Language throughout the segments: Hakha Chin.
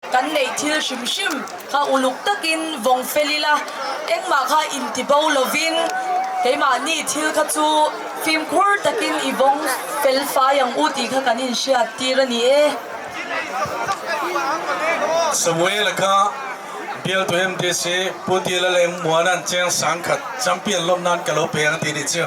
kan nei thil hrimhrim kha uluk takin vong fel ila engmah kha in ti bo lovin keimahni thil kha chu fimkhur takin i vong felfai ang u ti kha kan in hriat tir a ni e Samuel kha bial to hem te se pu ti la leng muan an cheng sang khat champion lom nan kalo pe na ti ni chiu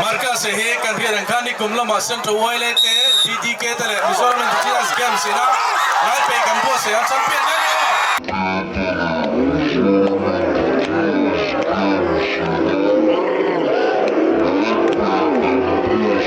Marcus hi kan rian an khan nikum lama Central Uai le te DDK te le Mizoram Indigenous Games sinah lai pe kan buah se an champion ne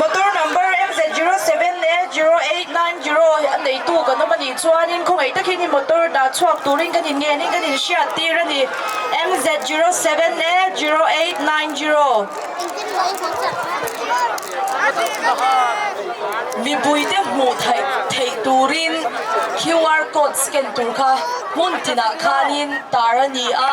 Motor number MZ07 le 0890 a neitu kan um anih chuan in khawngei takin in motor da chuak turin kan in ngen in kan in hriat tir ani MZ07 le 0890 mipui te hmuh theih turin QR code scan tur kha hmun tinah khanin tar ani a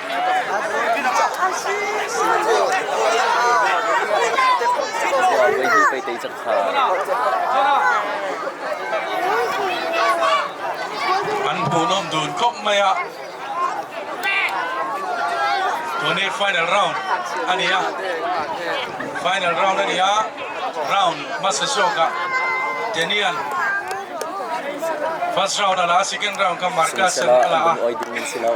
Wow, wei hi pei tei cak sa. An bunom dun kok maya. Tuni final round ani ya. Final round ani ya. Round Masashoka. Tenian. First round ala second round ka markas ala. Oi ding min silau.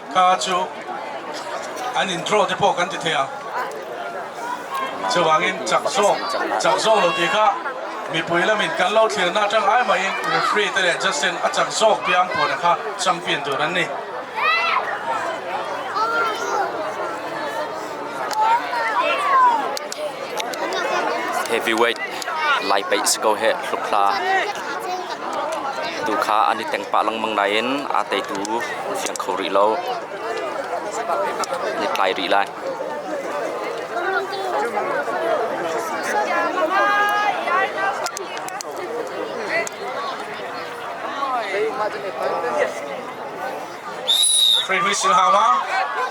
kha cu an in draw te pawh kan ti thei a chuvangin chak zawk chak zawk lo ti kha mipui lamin kan lo thlirna atang ai mahin referee te leh Justin a chak zawk piang pawl kha champion tur an ni heavyweight lai peih si ko he hlukthla tu kha an i tengpah lengmang nain a teitu a ziang kho rih lo. Ni tlai rih lai. Yes. Three weeks in how long?